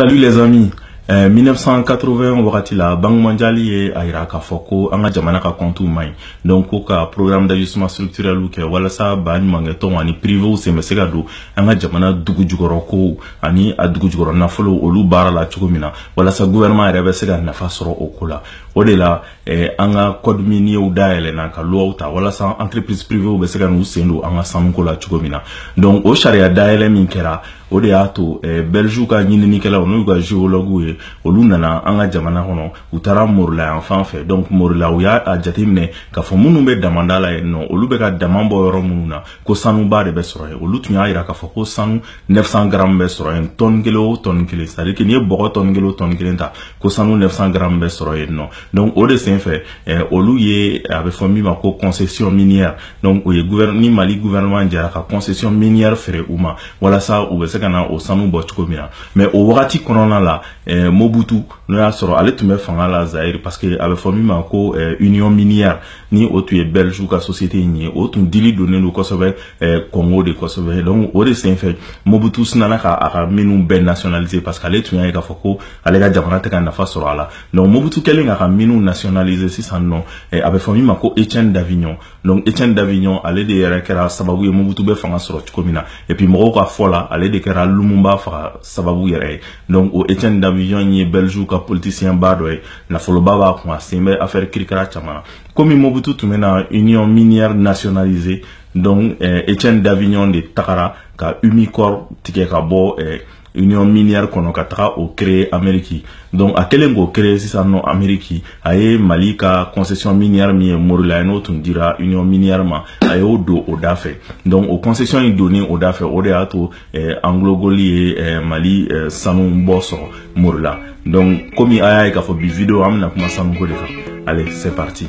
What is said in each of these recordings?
Salut les amis. Eh, 1980 wagati la banque mondiale ye a yira k'a fɔ ko an ka jamana ka kɔntiw man ɲi donc ko ka programme d'ajustement structurɛliw kɛ walasa ba ɲumankɛtɔnw ani privew sen bɛ se ka don an ka jamana dugu jukɔrɔ kow ani a dugu jukɔrɔ nafolo olu baara la cogo min na walasa gouvernement yɛrɛ bɛ se ka nafa sɔrɔ o ko la o de la eh, an ka code minierw dayɛlɛna ka loiw ta walasa entreprise privew bɛ se ka n'u sen don an ka sanuko la cogo min na donc o sariya dayɛlɛ min kɛra o de y'a to eh, belgiw ka ɲininikɛlaw n'u ka geologuw ye olu nana an ka jamana kɔnɔ u taara morila yan fan fɛ donc morila u y'a jateminɛ k'a fɔ minnu bɛ damanda la yen nɔ olu bɛ ka dama bɔ yɔrɔ minnu na ko sanuba de bɛ sɔrɔ yen olu tun y'a jira k'a fɔ ko sanu 900 gramme bɛ sɔrɔ yen tɔni kelen o tɔni kelen c'est à dire que n'i ye bɔgɔ tɔni kelen o tɔni kelen ta ko sanu 900 gramme bɛ sɔrɔ yen nɔ donc o de senfɛ eh, olu ye a bɛ fɔ min ma ko concession minière donc o ye ni mali gouvernement jɛra ka concession minière feere u ma walasa u bɛ se ka na o sanu bɔ cogo min na mais o wagati kɔnɔna la eh, mobutu n'o y'a sɔrɔ ale tun bɛ fanga la zaire parce que a bɛ fɔ min ma ko eh, union minière ni o tun ye belgique ka société in ye o tun dili donnen don kosɛbɛ eh, congo de kosɛbɛ donc o de senfɛ mobutu sinana ka a ka miniw bɛɛ nationaliser parce que ale tun y'a ye k'a fɔ ko ale ka jamana tɛ ka nafa sɔrɔ a la donc mobutu kɛlen k'a ka miniw nationaliser sisan nɔ eh, a bɛ fɔ min ma ko etienne davignon donc etienne davignon ale de yɛrɛ kɛra sababu ye mobutu bɛ fanga sɔrɔ cogo min na et puis mɔgɔw ka fɔ la ale de kɛra lumumba faga sababu yɛrɛ ye donc o etienne davignon ye belgiw ka politicien ba dɔ ye nafoloba b'a kun a sen bɛ affaire kirikara caman na komi mobutu tun bɛna union minière nationaliser donc eh, etienne davignon de tagara ka umicore tigɛ ka bɔ eh, union minière kɔnɔ ka taga o créer Amérique donc a kɛlen k'o créer sisan nɔ Amérique a ye Mali ka concession minière min ye Morila ye n'o tun dira union minière ma a y'o don o da fɛ donc o concession in donni o da fɛ o de y'a to eh, anglogold ye eh, Mali eh, sanu bɔ sɔrɔ Morila donc komi a y'a ye k'a fɔ bi video an bɛna kuma sanuko de kan allez c'est parti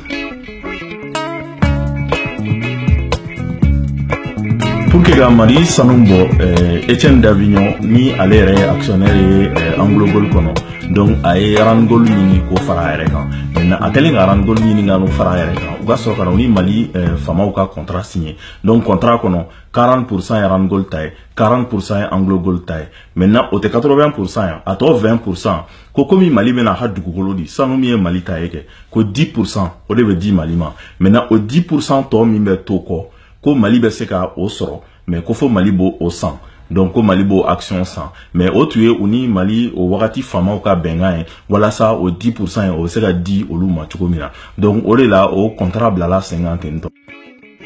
pour que ka mali sanu bɔ eh, etienne davignon ni ale yɛrɛ ye actionnaire ye eh, anglogold kɔnɔ donc a ye randgold ɲini k'o fara a yɛrɛ kan maintenant a kɛlen ka randgold ɲini ka n'o fara a yɛrɛ kan u ka sɔrɔ ka na u ni mali eh, faamaw ka contrat signé donc contrat kɔnɔ 40 pourcent ye randgold ta ye 40% ye anglogold ta ye maintenant o tɛ 80% ye a tɔ 20% ko komi mali bɛna a ka dugukolo di sanu min ye mali ta ye kɛ ko 10% o de bɛ di mali ma maintenant o 10% tɔ min bɛ to kɔ ko mali bɛ se ka o sɔrɔ mais ko fo mali b'o san donc ko mali b'o action san mais o tun ye u ni mali o wagati faamaw ka bɛnkan ye walasa o 10% ye o bɛ se ka di olu ma cogo min na donc o de la o contrat bilala sen kan ten nɔ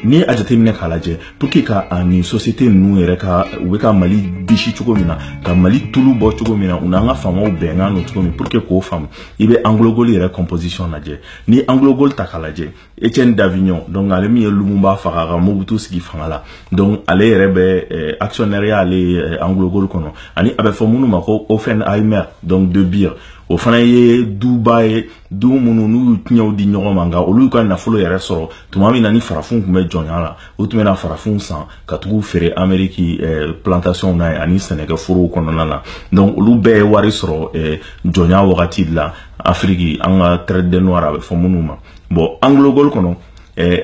n'i y'a jateminɛ k'a lajɛ pour que ka a nin société ninnu yɛrɛ ka u bɛ ka mali bisi cogo min na ka mali tulu bɔ cogo min na u n'an ka faamaw bɛnkan don cogo min pour que k'o faamu i bɛ anglogold yɛrɛ composition lajɛ n'i anglogold ta k'a lajɛ etienne davignon donc ale min ye lumumba faga ka mobutu sigi fanga la donc ale yɛrɛ bɛ eh, actionnaireya ale ye eh, anglogold kɔnɔ ani a bɛ fɔ minnu ma ko oppenheimer donc de beers o fana ye duba ye duw minnu n'u y'u ciyɛnw di ɲɔgɔn ma nka olu ka nafolo yɛrɛ sɔrɔ tuma min na ni farafinw tun bɛ jɔnya la u tun bɛna farafinw san ka tag'u feere ameriki eh, plantationw na yen ani sɛnɛkɛ forow kɔnɔna na donc olu bɛɛ ye wari sɔrɔ eh, jɔnya wagati de la afiriki an ka traite des noirs a bɛ fɔ minnu ma bon anglogold kɔnɔ eh,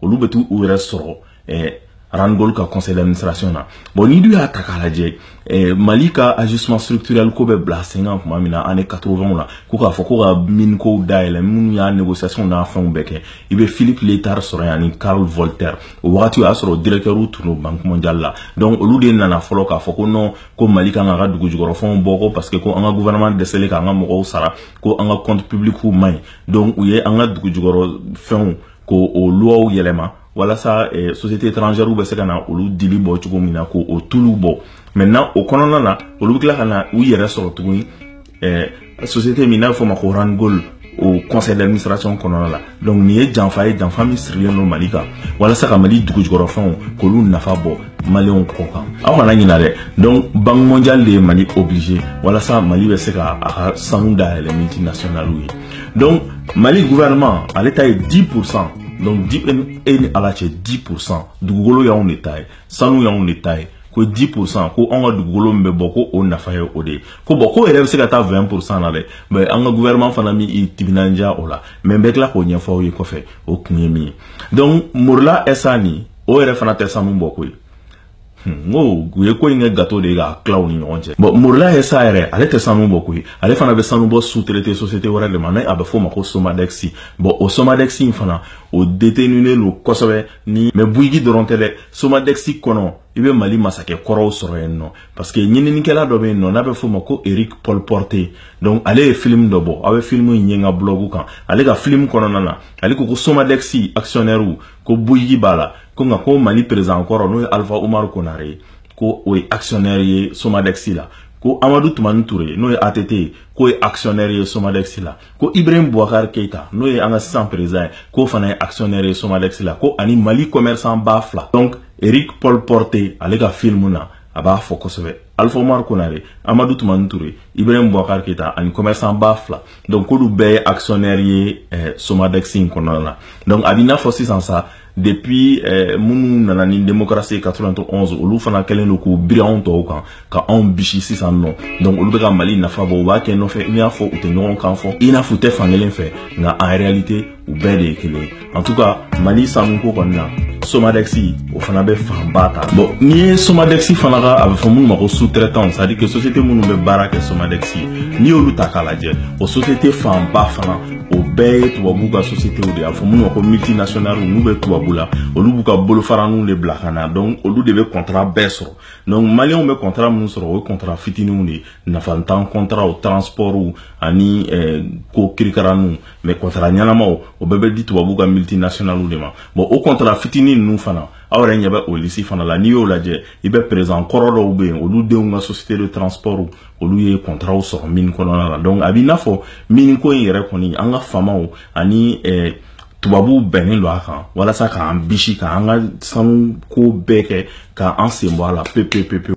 olu bɛ t'u yɛrɛ sɔrɔ eh, randgold ka conseil d'administration na bon n'i dun y'a ta k'a lajɛ eh, mali ka ajustement structurel ko bɛ bila sen kan tuma min na année 80 la ko k'a fɔ ko ka mine kow dayɛlɛ minnu y'a négociation n'a fɛnw bɛɛ kɛ i bɛ philippe liétard sɔrɔ yan ni karl voltaire o wagati o y'a sɔrɔ directɛrw tun don banque mondiale la donc olu de nana fɔlɔ k'a fɔ ko non ko mali kan k'a ka dugujukɔrɔfɛnw bɔ ko parce que ko an ka gouvernement dɛsɛlen k'an ka mɔgɔw sara ko an ka compte publicw man ɲi donc u ye an ka dugujukɔrɔfɛnw ko o luwaw yɛlɛma walasa eh, société étrangère bɛ se ka na olu dili bɔ cogo min na ko o tulu bɔ maintenant o kɔnɔna na olu bɛ tila ka na u yɛrɛ sɔrɔ tuguni eh, société min n'a bɛ fɔ ma ko randgold o conseil d'administration kɔnɔna la donc nin ye janfa ye janfa min sirilen don mali kan walasa ka mali dugujukɔrɔfɛnw k'olu nafa bɔ maliyɛnw kɔ kan aw kana ɲina dɛ donc banque mondiale de ye mali obligé walasa mali bɛ se ka a ka sanu dayɛlɛ multinationaliw ye donc mali gouvernement ale ta ye 10 pourcent donc di e ni ala cɛ 10 pourcent dugukolo y'anw de ta ye sanu y'anw de ta ye ko 10 pourcent ko anw ka dugukolo min bɛ bɔ ko o nafa ye o de ye ko bon k'o yɛrɛ bɛ se ka taa 20 pourcent na dɛ mais an ka gouvernement fana m'i timinandiya o la mais n bɛ tila k'o ɲɛfɔ aw ye kɔfɛ o kun ye min ye donc morila sa nin o yɛrɛ fana tɛ sanu bɔ koyi n ko u ye ko in kɛ gâteau de ye k'a tila u ni ɲɔgɔn cɛ bon morila sa yɛrɛ ale tɛ sanu bɔ koyi ale fana bɛ sanu bɔ sous-traiter société wɛrɛ de ma ni a bɛ f'o ma ko somadex bon o somadex in fana o deteninen don kosɛbɛ ni mais bouygues dɔrɔn tɛ dɛ somadex kɔnɔ i bɛ mali masakɛ kɔrɔw sɔrɔ yen nɔ parce que ɲininikɛla dɔ bɛ yen nɔ n'a bɛ f'o ma ko eric pauporté donc ale ye filimu dɔ bɔ aw bɛ filimu in ye n ka blog kan ale ka filimu kɔnɔna na ale ko ko somadex actionnairew ko bouygues b'a la ko nka ko mali président kɔrɔ n'o ye alifa umaru konare ye ko o ye actionnaire ye somadex la ko amadu tumani ture n'o ye att ye k'o ye actionnaire ye somadex la ko ibrahim boubacar keita n'o ye an ka sisan président ye k'o fana ye actionnaire ye somadex la ko ani mali commerçant ba fila donc eric pauporté ale ka film na a b'a fɔ kosɛbɛ alifa umaru konare amadu tumani ture ibrahim bubakar keyita ani commerçant ba fila donc k'olu bɛɛ ye actionnaire ye eh, somadex in kɔnɔna na donc a b'i n'a fɔ sisan sa depuis eh, minnu nana ni démocratie 91 olu fana kɛlen don k'u biri anw tɔw kan ka anw bisi sisan nɔ donc olu bɛ ka mali nafa bɔ u b'a kɛ nɔfɛ i n'a fɔ u tɛ ɲɔgɔn kan fɔ i n'a fɔ u tɛ fan kelen fɛ nka en réalité u bɛɛ de ye kelen ye en tout cas mali sanuko kɔni na somadɛxi o fana bɛ fanba ta bon n'i ye somadɛxi fana ka a bɛ fɔ minnu ma ko sous-traitanw c'est à dire que société minnu bɛ baara kɛ somadɛxi n'i y'olu ta k'a lajɛ o société fanba fana o bɛɛ ye tubabu ka sociétéw de y'a fɔ minnu ma ko multinationales n'u bɛ tubabu la olu b'u ka bolofaraninw de bila ka na donc olu de bɛ contrat bɛɛ sɔrɔ donc maliyɛnw bɛ contrat minnu sɔrɔ o ye contrat fitininw de ye nafantan contratw transportw ani eh, ko kirikaraninw mais kɔntara ɲɛnamaw o bɛɛ bɛ di tubabu ka multinationales de ma bon o kɔntara fitinin ninnu fana aw yɛrɛ ɲɛ bɛ o lisi fana la n'i y'o lajɛ i bɛ perezidan kɔrɔ dɔw bɛ yen olu denw ka société de transport olu ye kɔntaraw sɔrɔ mini kɔnɔna la donc a b'i n'a fɔ mini ko in yɛrɛ kɔni an ka faamaw ani eh, tubabuw bɛnnen don a kan walasa k'an bisi k'an ka sanu ko bɛɛ kɛ k'an sen bɔ a la pepepepewu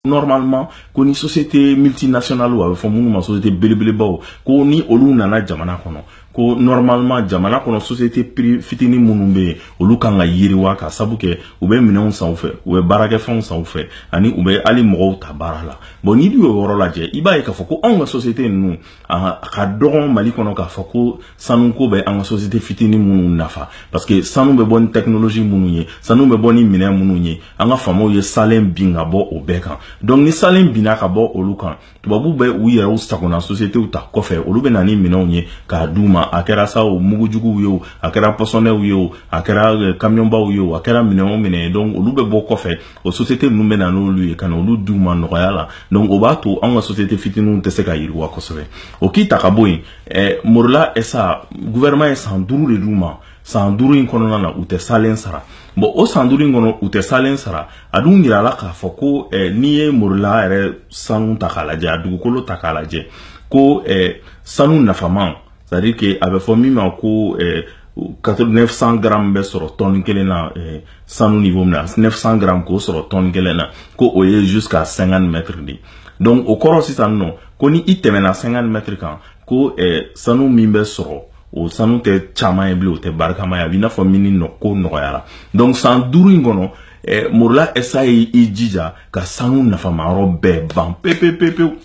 normalement ko ni société multinationale a bɛ fɔ minnu ma société belebelebaw ko ni olu nana jamana kɔnɔ ko normalement jamana kɔnɔ société fitinin minnu bɛ yen olu kan ka yiriwa ka sabu kɛ u bɛ minɛnw san u fɛ u bɛ baarakɛfɛnw san u fɛ ani u bɛ hali mɔgɔw ta baara la bon n'i dun y'o yɔrɔ lajɛ i b'a ye k'a fɔ ko anw ka société ninnu a ka dɔgɔn mali kɔnɔ k'a fɔ ko sanuko bɛ an ka société fitinin minnu nafa parce que sanu bɛ bɔ ni technologie minnu ye sanu bɛ bɔ ni minɛn minnu ye an ka faamaw ye salen bin ka bɔ o bɛɛ kan donc ni salen binna ka bɔ olu kan tubabu bɛ u yɛrɛw sagona sociétéw ta kɔfɛ olu bɛ na ni minɛnw ye k'a d'u ma a kɛra sa o mugujuguw ye o a kɛra pɔsɔniw ye o a kɛra kamiyɔnbaw euh, ye o a kɛra minɛn o minɛn ye donc olu bɛ bɔ kɔfɛ o société ninnu bɛ na n'olu ye ka na olu di u ma nɔgɔya la donc o b'a to anw ka société fitininw tɛ se ka yiriwa kosɛbɛ o k'i ta ka bɔ yen eh, morila sa gouvernement ye san duuru de d'u ma san duuru in kɔnɔna na u tɛ salen sara bon o san duuru in kɔnɔ u tɛ salen sara a dun yira la k'a fɔ ko eh, n'i ye morila yɛrɛ sanu ta k'a lajɛ a dugukolo ta k'a lajɛ ko eh, sanu nafaman c'est à dire que a bɛ fɔ min ma ko eh, 900 grammes bɛ sɔrɔ tɔni kelen na eh, sanu niveau min na 900 grammes k'o sɔrɔ tɔni kelen na ko o ye jusqu'à 50 mètres de donc o kɔrɔ sisan nɔ ko ni i tɛmɛna 50 mètres kan ko eh, sanu min bɛ sɔrɔ o sanu tɛ caman ye bilen o tɛ barikama ye a b'i n'a fɔ mini nɔ ko nɔgɔyara donc san duuru in kɔnɔ eh, morila sa ye i jija ka sanu nafamayɔrɔ bɛɛ ban pepepepewu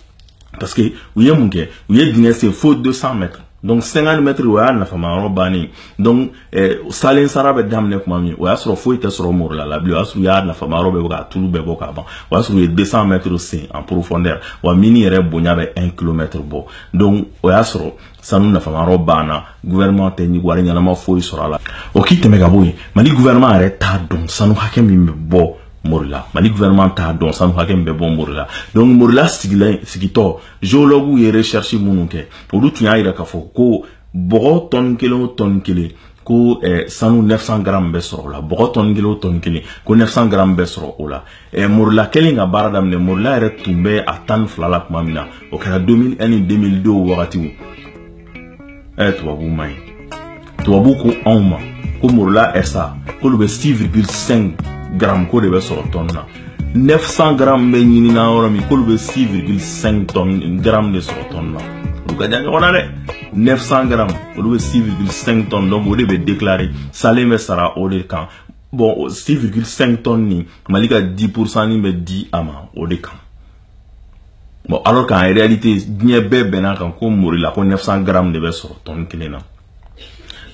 parce que u ye mun kɛ u ye dingɛ sen fo 200 mètres donc 50 mètres o y'a nafama yɔrɔ bannen donc eh, salen sara bɛ daminɛ tuma min o y'a sɔrɔ foyi tɛ sɔrɔ morila la bilen o y'a sɔrɔ u y'a nafama yɔrɔ bɛɛ bɔ k'a tulu bɛɛ bɔ k'a ban o y'a sɔrɔ u ye 200 mètres sen en profondeur wa mini yɛrɛ bonya bɛ 1 kilomètre bɔ donc o y'a sɔrɔ sanu nafama yɔrɔ banna gouvernement tɛna wari ɲɛnama foyi sɔrɔ a la o k'i tɛmɛ ka bɔ yen mali gouvernement yɛrɛ t'a dɔn sanu hakɛ min bɛ bɔ morila mali gouvernement t'a dɔn sanu hakɛ min bɛ bɔ morila donc morila sigilen sigitɔ géologues ye recherche minnu kɛ olu tun y'a yira k'a fɔ ko bɔgɔ tɔni kelen o tɔni kelen ko eh, sanu 900 garamu bɛ sɔrɔ o la bɔgɔ tɔni kelen o tɔni kelen ko 900 garamu bɛ sɔrɔ o la eh, morila kɛlen ka baara daminɛ morila yɛrɛ tun bɛ a tan ni fila la tuma min na o kɛra 2001 ni 2002 wagatiw ɛ tubabu man ɲi tubabu ko anw ma ko morila SA k'olu bɛ 6,5 gramme k'o de bɛ sɔrɔ tɔni na 900 gramme bɛ ɲinina yɔrɔ min k'olu bɛ 6,5 tɔni gramme de sɔrɔ tɔni na olu ka jan ɲɔgɔn na dɛ 900 gramme olu bɛ 6,5 tɔni donc o de bɛ déclarer salen bɛ sara o de kan bon 6,5 tɔni nin mali ka 10 pourcent nin bɛ di a ma o de kan bon alors qu'en réalité diɲɛ bɛɛ bɛnn'a kan ko morila ko 900 grammes de bɛ sɔrɔ tɔni kelen na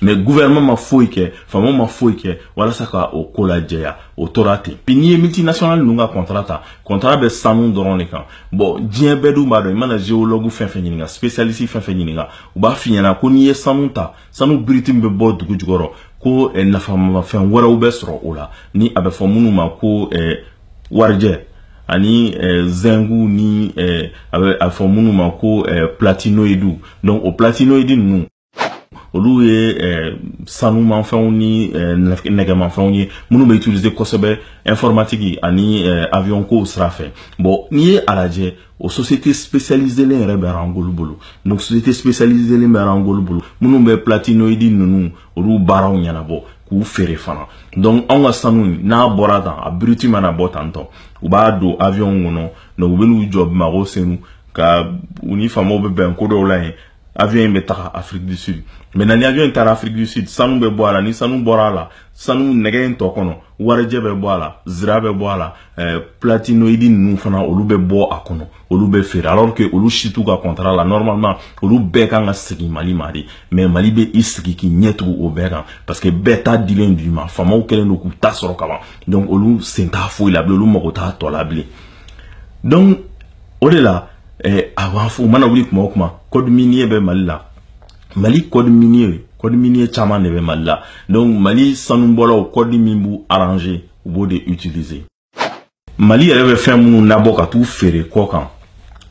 mais gouvernement ma foyi kɛ faamaw ma foyi kɛ walasa ka o ko lajɛya o tora ten puis n'i ye multinational ninnu ka contrat ta contrat bɛ sanu dɔrɔn de kan bon diɲɛ bɛɛ dun b'a dɔn i mana géologue fɛn fɛn ɲininka spécialiste fɛn fɛn ɲininka u b'a f'i ɲɛna ko n'i ye sanu ta sanu biriti min bɛ bɔ dugu jukɔrɔ ko eh, nafamafɛn wɛrɛw bɛ sɔrɔ o la ni a bɛ fɔ minnu ma ko eh, warijɛ ani eh, zɛngu ni eh, a bɛ a fɔ minnu ma ko eh, platinoidu donc o platinoidi ninnu olu ye eh, sanumafɛnw ni eh, nɛgɛmafɛnw ye minnu bɛ utiliser kosɛbɛ informatiki ani eh, avion kow sira fɛ bon n'i ye a lajɛ o société spécialiselen yɛrɛ bɛ Randgold bolo donc société spécialiselen bɛ Randgold bolo minnu bɛ platinoïdi ninnu olu baaraw ɲɛnabɔ k'u feere fana donc anw ka sanu n'a bɔra tan a biriti mana bɔ tantɔ u b'a don avion kɔnɔ donc u bɛ n'u jɔ bamakɔ senu ka u ni faamaw bɛ bɛn ko dɔw la yen avion in bɛ taga Afrique du Sud maintenant ni avion in taara Afrique du Sud sanu bɛ bɔ a la ni sanu bɔra a la sanu nɛgɛ in tɔ kɔnɔ warijɛ bɛ bɔ a la zira bɛ bɔ a la eh, platinoïde ninnu fana olu bɛ bɔ a kɔnɔ olu bɛ feere alors que olu si t'u ka contrat la normalement olu bɛɛ kan ka segin Mali ma de mais Mali bɛ i sigi k'i ɲɛ tugu o bɛɛ kan parce que bɛɛ ta dilen d'u ma faamaw kɛlen don k'u ta sɔrɔ kaban donc olu sen t'a foyi la bilen olu mago t'a tɔ la bilen donc o de la eh, a b'a fɔ u mana wuli kuma o kuma code minier bɛ mali la mali code minier code minier caman de bɛ mali la donc mali sanubɔlaw code min b'u arranger u b'o de utiliser mali yɛrɛ bɛ fɛn minnu labɔ ka t'u feere kɔkan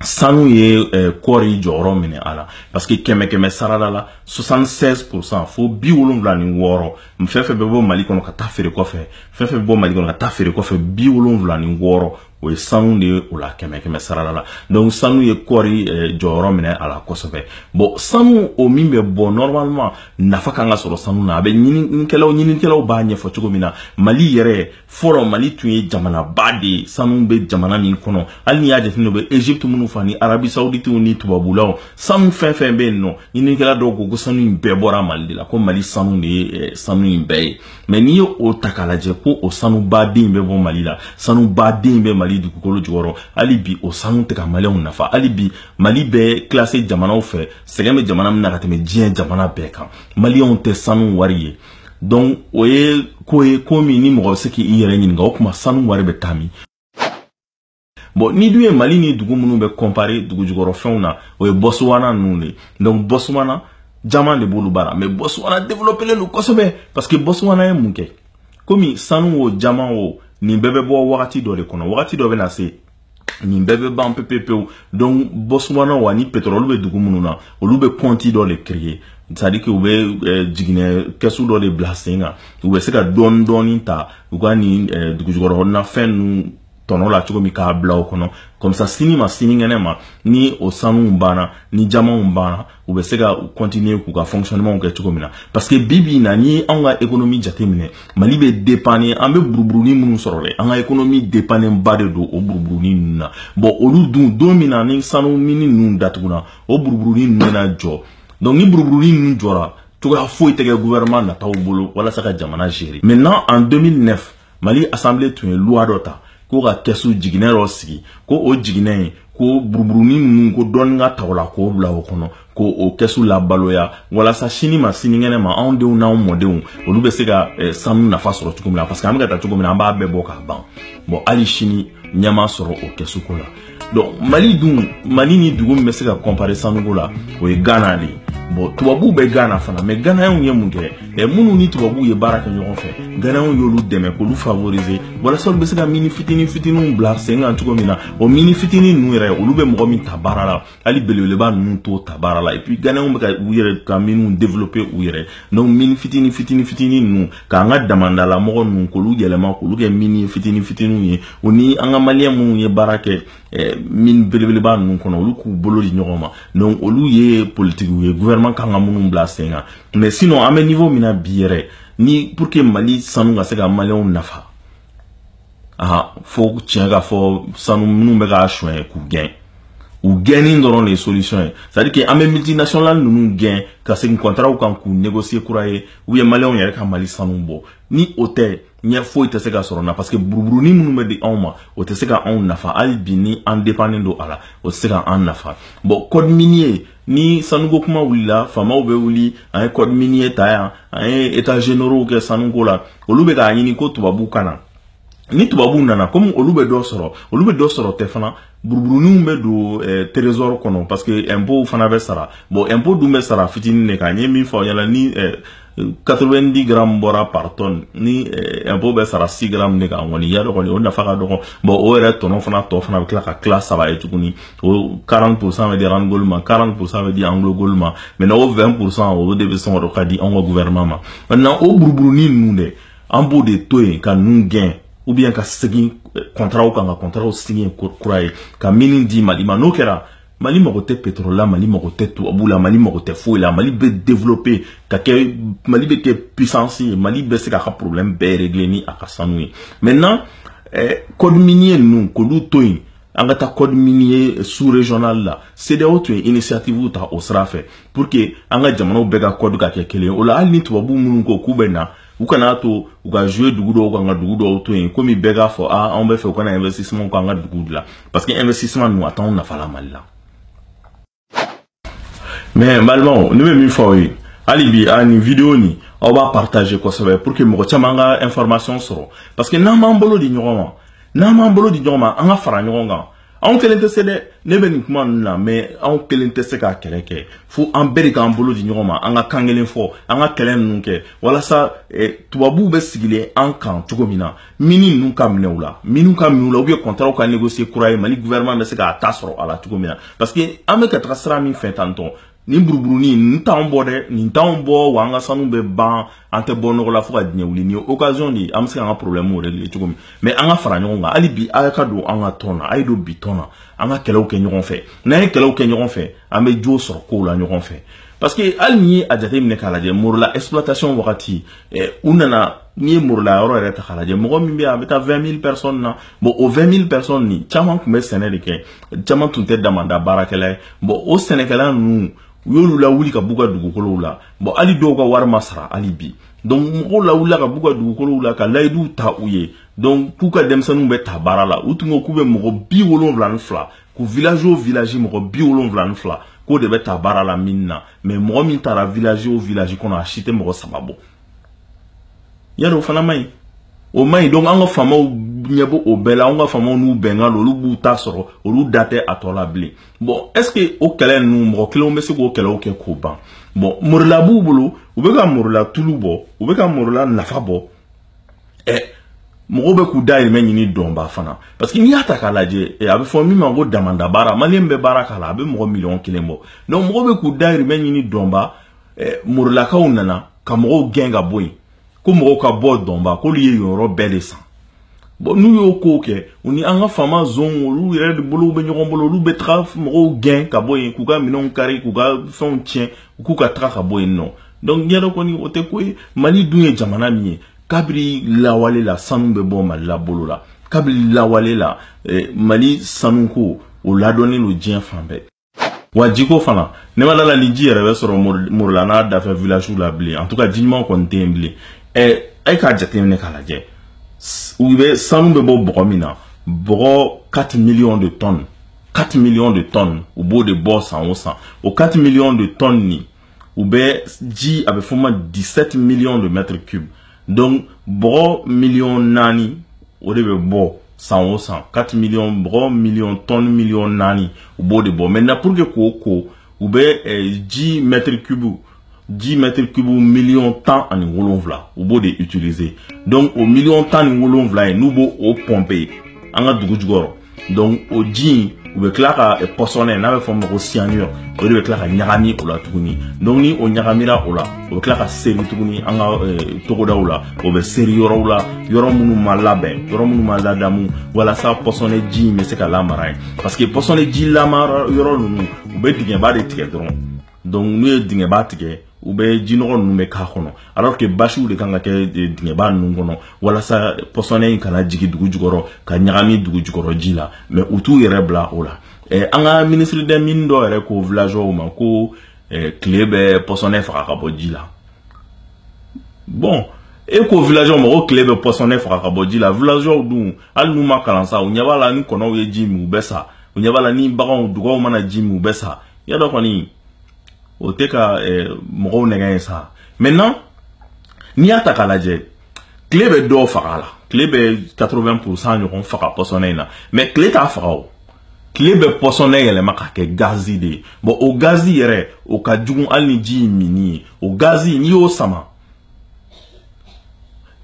sanu ye eh, kɔɔri jɔyɔrɔ minɛ a la parce que kɛmɛ kɛmɛ sarada la 76 pourcent fo bi wolonwula ni wɔɔrɔ fɛn fɛn bɛ bɔ mali kɔnɔ ka taa feere kɔfɛ fɛn fɛn bɛ bɔ mali kɔnɔ ka taa feere kɔfɛ bi wolonwula ni wɔɔrɔ o ye sanu de ye o la kɛmɛ kɛmɛ sarala la donc sanu ye kɔɔri eh, jɔyɔrɔ minɛ a la kosɛbɛ bon sanu o min bɛ bɔ normalement nafa kan ka sɔrɔ sanu na a bɛ ɲininikɛlaw ɲininikɛlaw b'a ɲɛfɔ cogo min na mali yɛrɛ fɔlɔ mali tun ye jamanaba de ye sanu bɛ jamana min kɔnɔ hali n'i y'a jateminɛ u bɛ egypte minnu fɔ ani arabi sauditiw ni tubabulaw sanu fɛn fɛn bɛ yen nɔ ɲininikɛla dɔw ko ko sanu in bɛɛ bɔra mali de la ko mali sanu de ye eh, sanu in bɛɛ ye mɛ n'i ye o ta k'a lajɛ ko o sanu ba de bɛ bɔ mali la sanu ba de bɛ mali dugukolo jukɔrɔ hali bi o sanu tɛ ka maliyɛnw nafa hali bi mali bɛ kilase jamanaw fɛ sɛgɛn bɛ jamana min na ka tɛmɛ diɲɛ jamana bɛɛ kan maliyɛnw tɛ sanu wari ye donc o ye ko ye ko min ni mɔgɔ bɛ se k'i yɛrɛ ɲininka o tuma sanu wari bɛ taa min bon n'i dun ye mali ni dugu minnu bɛ kɔnpare dugujukɔrɔfɛnw na o ye bɔsuwana ninnu de donc bɔsuwana jaman de b'olu bara mais bɔsuwana développelen don kosɛbɛ parce que bɔsuwana ye mun kɛ komi sanu o jaman o nin bɛɛ bɛ bɔ wagati dɔ de kɔnɔ wagati dɔ bɛ na se nin bɛɛ bɛ ban pepepewu donc bɔsuwana wa ni pétrole bɛ dugu minnu na olu bɛ compte dɔ de créer c'est à dire que u bɛ jiginɛ kɛsu dɔ de bila sen kan u bɛ se ka dɔɔni dɔɔni ta u ka nin dugujukɔrɔna fɛn ninnu tɔnɔ la cogo min k'a bila o kɔnɔ comme ça sini ma sinikɛnɛ ma ni o sanuw banna ni jamanw banna u bɛ se ka continuer k'u ka fonctionnement kɛ cogo min na parce que bi bi in na n'i y'anw ka économie jateminɛ Mali bɛ dépendre an bɛ buruburunin minnu sɔrɔ de an ka économie dépendre ba de don o buruburunin ninnu na bon olu dun don min na ni sanu mini ninnu datuguna o buruburunin ninnu bɛna jɔ donc ni buruburunin ninnu jɔra cogoya foyi tɛ kɛ gouvernement nataw bolo walasa ka jamana gérer maintenant en 2009 mali asanbile tun ye luwa dɔ ta ko ka kɛsu jiginɛ dɔ sigi ko o jiginɛ ye ko buruburunin ninnu ko dɔɔni ka ta o la k'o bila o kɔnɔ k'o kɛsu labaloya walasa sini ma sinikɛnɛ ma anw denw n'anw mɔdenw olu bɛ se ka eh, sanu nafa sɔrɔ cogo min na parce que an bɛ ka taa cogo min na an b'a bɛɛ bɔ k'a ban bɔn hali sini ɲɛ ma sɔrɔ o kɛsuko la donc mali dun mali ni dugu min bɛ se ka kɔnpare sanuko la o ye ghana de ye bon tubabuw bɛ ghana fana mɛ ganayanw ye mun kɛ ɛ minnu ni tubabuw ye baara kɛ ɲɔgɔn fɛ ganayanw y'olu dɛmɛ k'olu favorize walasa olu bɛ se ka mini fitini fitiniw bila sen kan cogo min na o mini fitini ninnu yɛrɛ olu bɛ mɔgɔ min ta baara la hali belebeleba ninnu t'o ta baara la et puis ganɛnw bɛ ka u yɛrɛ ka miniw développer u yɛrɛ donc mini fitini fitini fitini ninnu k'an ka damanda la mɔgɔ ninnu k'olu yɛlɛma k'olu kɛ mini fitini fitiniw ye o ni an ka maliyɛn minnu ye baara kɛ eh, mini belebeleba ninnu kɔnɔ olu k'u bolo di ɲɔgɔn ma donc olu ye politikiw ye gouvernement kan ka minnu bila sen kan mais sinon an bɛ niveau min na bi yɛrɛ ni pour que mali sanu ka se ka maliyɛnw nafa aa fo tiɲɛ ka fɔ sanu minnu bɛ k'a suɲɛ k'u gɛn u gɛnni dɔrɔn de ye solution ye c'est à dire que an bɛ multinational ninnu gɛn ka segin kɔntaraw kan k'u négocier kura ye ou bien maliyɛnw yɛrɛ ka mali sanu bɔ ni o tɛ ɲɛ foyi tɛ se ka sɔrɔ na parce que buruburuni minnu bɛ di anw ma o tɛ se ka anw nafa hali bi ni an dépannen don a la o tɛ se ka an nafa bon code minier ni sanuko kuma wulila faamaw bɛ wuli an ye code minier ta yan an ye état généraux kɛ sanuko la olu bɛ k'a ɲini ko tubabu ka na ni tubabuw nana komi olu bɛ dɔ sɔrɔ olu bɛ dɔ sɔrɔ tɛ fana buruburuninw bɛ don eh, trésor kɔnɔ parce que impôt fana bɛ sara bon impôt dun bɛ sara fitinin de kan n ye min fɔ aw ɲɛna ni eh, 90 grammes bɔra par tonne ni eh, impôt bɛ sara 6 grammes de kan kɔni i y'a dɔn kɔni o nafa ka dɔgɔn bon o yɛrɛ tɔnɔ fana tɔ fana bɛ tila ka tila saba ye tuguni o 40 pourcent bɛ di randgold ma 40 pourcent bɛ di anglogold ma mais o 20 pourcent o de bɛ sɔngɔ dɔ ka di anw ka gouvernement ma maintenant o buruburunin ninnu dɛ an b'o de to yen ka ninnu gɛn ou bien ka segin eh, kɔntaraw kan ka kɔntaraw signer kura ye ka mini di mali ma n'o kɛra mali mago tɛ pétrole la mali mago tɛ tubabu la mali mago tɛ foyi la mali bɛ développer ka kɛ mali bɛ kɛ puissance ye mali bɛ se k'a ka problème bɛɛ régler ni a ka sanu ye maintenant eh, code minier ninnu k'olu to yen an ka taa code minier sous régional la CEDEAO tun ye initiative ta o sira fɛ pour que an ka jamanaw bɛɛ ka code ka kɛ kelen ye o la hali ni tubabu minnu ko k'u bɛ na u kana to u ka jouer dugu dɔw kan ka dugu dɔw to yen komi bɛɛ k'a fɔ a anw b'a fɛ u ka na investissement k'an ka dugu de la parce que investissement ninnu a t'anw nafa la mali la mais n balimaw ne bɛ min fɔ aw ye hali bi a nin video nin aw b'a partager kosɛbɛ pour que mɔgɔ caman ka information sɔrɔ parce que n'an b'an bolo di ɲɔgɔn ma n'an b'an bolo di ɲɔgɔn ma an ka fara ɲɔgɔn kan anw kelen tɛ se dɛ ne bɛ nin kuma ninnu na mais anw kelen tɛ se ka kɛlɛ kɛ fo an bɛɛ de k'an bolo di ɲɔgɔn ma an ka kan kelen fɔ an ka kɛlɛ ninnu kɛ walasa eh, tubabuw bɛ sigilen an kan cogo min na mini ninnu ka minɛ u la minnu ka minɛ u la ou bien kɔntaraw ka negosiye kura ye mali gouvernement bɛ se k'a ta sɔrɔ a la cogo min na parce que an bɛ ka taga sira min fɛ tantɔn nin buruburunin nin t'anw bɔ dɛ nin t'anw bɔ wa an ka sanu bɛ ban an tɛ bɔ nɔgɔ la fo ka diɲɛ wuli nin ye occasion de ye an bɛ se k'an ka problème yɛrɛ de ye cogo min mais an ka fara ɲɔgɔn kan hali bi a ka don an ka tɔn na a ye don bi tɔn na an ka kɛlɛw kɛ ɲɔgɔn fɛ n'an ye kɛlɛw kɛ ɲɔgɔn fɛ an bɛ jo sɔrɔ kow la ɲɔgɔn fɛ parce que hali n'i ye a jateminɛ k'a lajɛ morila exploitation wagati eh, u nana n'i ye morila yɔrɔ yɛrɛ ta k'a lajɛ mɔgɔ min bɛ yen a bɛ taa 20 000 personnes na bon o 20 000 personnes nin caman tun bɛ sɛnɛ de kɛ caman tun tɛ damanda baarakɛla ye bɔn o sɛnɛkɛla ninnu u y'olu lawuli ka b'u ka dugukolow la bɔn hali dɔw ka wari ma sara hali bi donc mɔgɔw lawulila ka b'u ka dugukolow la ka layiduw ta u ye donc k'u ka denmisɛnninw bɛ ta baara la u tun ko k'u bɛ mɔgɔ bi wolonwula ni fila ko village o village mɔgɔ bi wolonwula ni fila k'o de bɛ ta baara la mine na mais mɔgɔ min tara village o village kɔnɔ a si tɛ mɔgɔ saba bɔ y'a dɔn o fana man ɲi o man ɲi donc an ka faamaw ɲɛ b'o bɛɛ la an ka faamaw n'u bɛnkan don olu b'u ta sɔrɔ olu da tɛ a tɔ la bilen bon est ce que o kɛlɛ ninnu mɔgɔ kelenw bɛ se k'o kɛlɛw kɛ k'o ban bon morola b'u bolo u bɛ ka morola tulu bɔ u bɛ ka morola nafa bɔ ɛ mɔgɔw bɛ k'u dayirimɛ ɲini dɔnba fana parce que n'i y'a ta k'a lajɛ a bɛ fɔ min ma ko damanda baara maliyɛn bɛ baara k'a la a bɛ mɔgɔ miliyɔn kelen bɔ donc mɔgɔw bɛ k'u dayirimɛ ɲini dɔnba eh, morolakaw nana ka mɔgɔw gɛn ka bɔ yen ko mɔgɔw ka bɔ dɔnba k'olu ye yen yɔrɔ bɛɛ de san bɔn n'u y'o kow kɛ u ni an ka faama zon olu yɛrɛ de bolow bɛ ɲɔgɔn bolo olu bɛ taga mɔgɔw gɛn ka bɔ yen k'u ka minɛnw kari k'u ka fɛnw tiɲɛ u k'u ka taga ka bɔ yen nɔ donc y'a dɔn kɔni o tɛ ko ye mali dun ye jamana min ye kabiri lawale la sanu bɛ bɔ mali la bolo la kabiri lawale la eh, mali sanuko o ladɔnnen don diɲɛ fan bɛɛ wa jiko fana ne ma d'a la ni ji yɛrɛ bɛ sɔrɔ morola n'a dafɛ villagew la bilen en tout cas ji ɲuman kɔni tɛ yen bilen ɛ a ye k'a jateminɛ k'a lajɛ u bɛ sanu bɛ bɔ bɔgɔ min na bɔgɔ 4 millions de tonnes 4 millions de tonnes u b'o de bɔ san o san o 4 millions de tonnes nin u bɛ ji a bɛ fɔ ma 17 millions de mètres cubes donc bɔgɔ million naani o de bɛ bɔ san o san 4 millions bɔgɔ million tonne million naani u b'o de bɔ maintenant pour que k'o ko u bɛ eh, ji mètre cube ji mètre cube million tan ani wolonwula u b'o de utiliser donc o million tan ni wolonwula ye n'u bɛ o pomper an ka dugu jukɔrɔ donc o ji in u bɛ tila ka eh, pɔsɔnɛ n'a bɛ fɔ o ma ko cyanure o de bɛ tila ka ɲagami o la tuguni donc ni o ɲagamira o la o bɛ tila ka seri tuguni an ka eh, togodaw la o bɛ seri yɔrɔw la yɔrɔ minnu ma labɛn yɔrɔ minnu ma ladamu walasa pɔsɔnɛ ji in bɛ se ka lamara yen parce que pɔsɔnɛ ji lamara yɔrɔ ninnu u bɛ dingɛba de tigɛ dɔrɔn donc n'u ye dingɛba tigɛ u bɛ jinɔgɔ ninnu bɛɛ k'a kɔnɔ alors que basiw de kan ka kɛ eh, dingɛba ninnu kɔnɔ walasa pɔsɔnɛ in kana jigi dugu jukɔrɔ ka ɲagami dugu jukɔrɔ ji la mais u t'u yɛrɛ bila o la eh, an ka ministre des mines dɔ yɛrɛ ko villageois ma ko eh, tile bɛ pɔsɔnɛ faga ka bɔ ji la bon e ko villageois ma ko tile bɛ pɔsɔnɛ faga ka bɔ ji la villageois dun hali n'u ma kalan sa u ɲɛ b'a la ni kɔnɔw ye ji min u bɛ sa u ɲɛ b'a la ni baganw dugaw mana ji min u bɛ sa y'a dɔn kɔni o tɛ ka mɔgɔw nɛgɛn ye sa maintenant n'i y'a ta k'a lajɛ tile bɛ dɔ faga a la tile bɛ 80 pourcent ɲɔgɔn faga pɔsɔnɛ in na mais tile t'a faga o tile bɛ pɔsɔnɛ yɛlɛma ka kɛ gazi de ye bɔn o gazi yɛrɛ o ka jugu hali ni ji in minni ye o gazi n'i y'o sama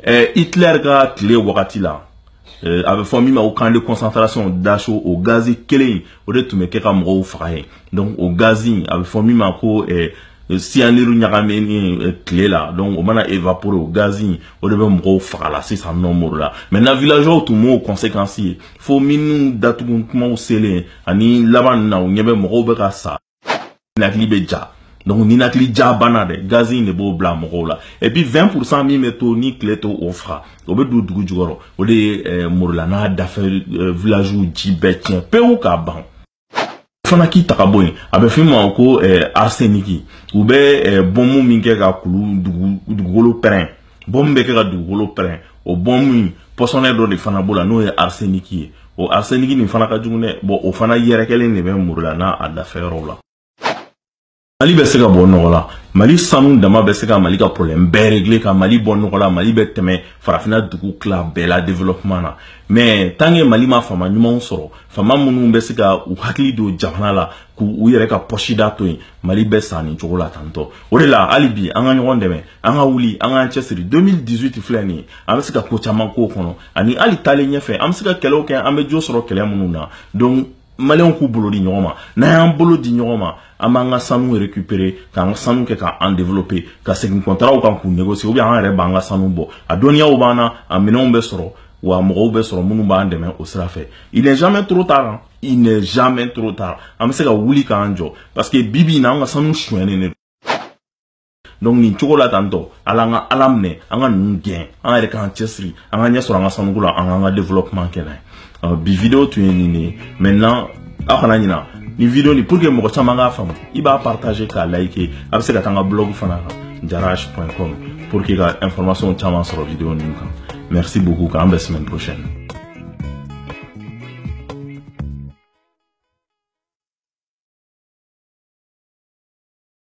ɛɛ eh, hitler ka tile wagati la Eh, a bɛ fɔ min ma ko camp de concentration dachau o gazi kelen in o de tun bɛ kɛ ka mɔgɔw faga ye donc o gazi in a bɛ fɔ min ma ko eh, siyaniru ɲagaminen eh, tile la donc o mana évaporer o gazi in o de bɛ mɔgɔw faga la sisan nɔ morila maintenant villageois tun m'o conséquence ye fo mine datugu tuma selen ani laban na u ɲɛ bɛ mɔgɔw bɛ ka sa ninakili bɛ ja donc ninakili ja bana dɛ gazi in de b'o bila mɔgɔw la et puis 20 pourcent min bɛ to ni tile t'o faga o bɛ don dugu jukɔrɔ o de ye eh, morila n'a dafɛ eh, village ji bɛɛ tiɲɛ pewu k'a ban fana k'i ta ka bɔ yen a bɛ fɔ min ma ko eh, arseniki u bɛ eh, bɔnmu min kɛ ka kulu dugu dugukolo pɛrɛn bɔmu bɛ kɛ ka dugukolo pɛrɛn o bɔmu in pɔsɔnɛ dɔ de fana b'o la n'o ye arseniki ye o arseniki nin fana ka jugu dɛ bɔn o fana yɛrɛkɛlen de bɛ morila n'a dafɛ yɔrɔw la mali bɛ se ka bɔ nɔgɔ la mali sanu dama bɛ se ka mali ka problème bɛɛ régler ka mali bɔ nɔgɔ la mali bɛ tɛmɛ farafina dugu tila bɛɛ la développement na mais tant que mali ma faama ɲumanw sɔrɔ faama minnu bɛ se ka u hakili don jamana la k'u yɛrɛ ka pɔsida to yen mali bɛ sa nin cogo la tan dɔrɔn o de la hali bi an ka ɲɔgɔn dɛmɛ an ka wuli an k'an cɛsiri 2018 filɛ nin ye an bɛ se ka ko caman k'o kɔnɔ ani hali taalen ɲɛfɛ an bɛ se ka kɛlɛw kɛ an bɛ jo sɔrɔ kɛlɛ minnu na donc maliyɛnw k'u bolo di ɲɔgɔn ma n'an y'an bolo di ɲɔgɔn ma an b'an ka sanu récupérer k'an ka sanu kɛ k'an développer ka segin kɔntaraw kan k'u négocier ou bien an yɛrɛ b'an ka sanu bɔ a dɔnniyaw b'an na a minɛnw bɛ sɔrɔ wa mɔgɔw bɛ sɔrɔ minnu b'an dɛmɛ o sira fɛ il n'est jamais trop tard hein. il n'est jamais trop tard an bɛ se ka wuli k'an jɔ parce que bi bi in na an ka sanu sonyɛnen de don donc nin cogo la tan tɔ ala an ka ala minɛ an ka ninnu gɛn an yɛrɛ k'an cɛsiri an ka ɲɛ sɔrɔ an ka sanuko la an k'an ka développement kɛ n'a ye bi video tun ye nin de ye maintenant aw kana ɲina nin video nin pour que mɔgɔ caman k'a faamu i b'a partager k'a like a bɛ se ka taa an ka blog fana kan jarash point com pour que ka information caman sɔrɔ video ninnu kan merci beaucoup k'an bɛn semaine prochaine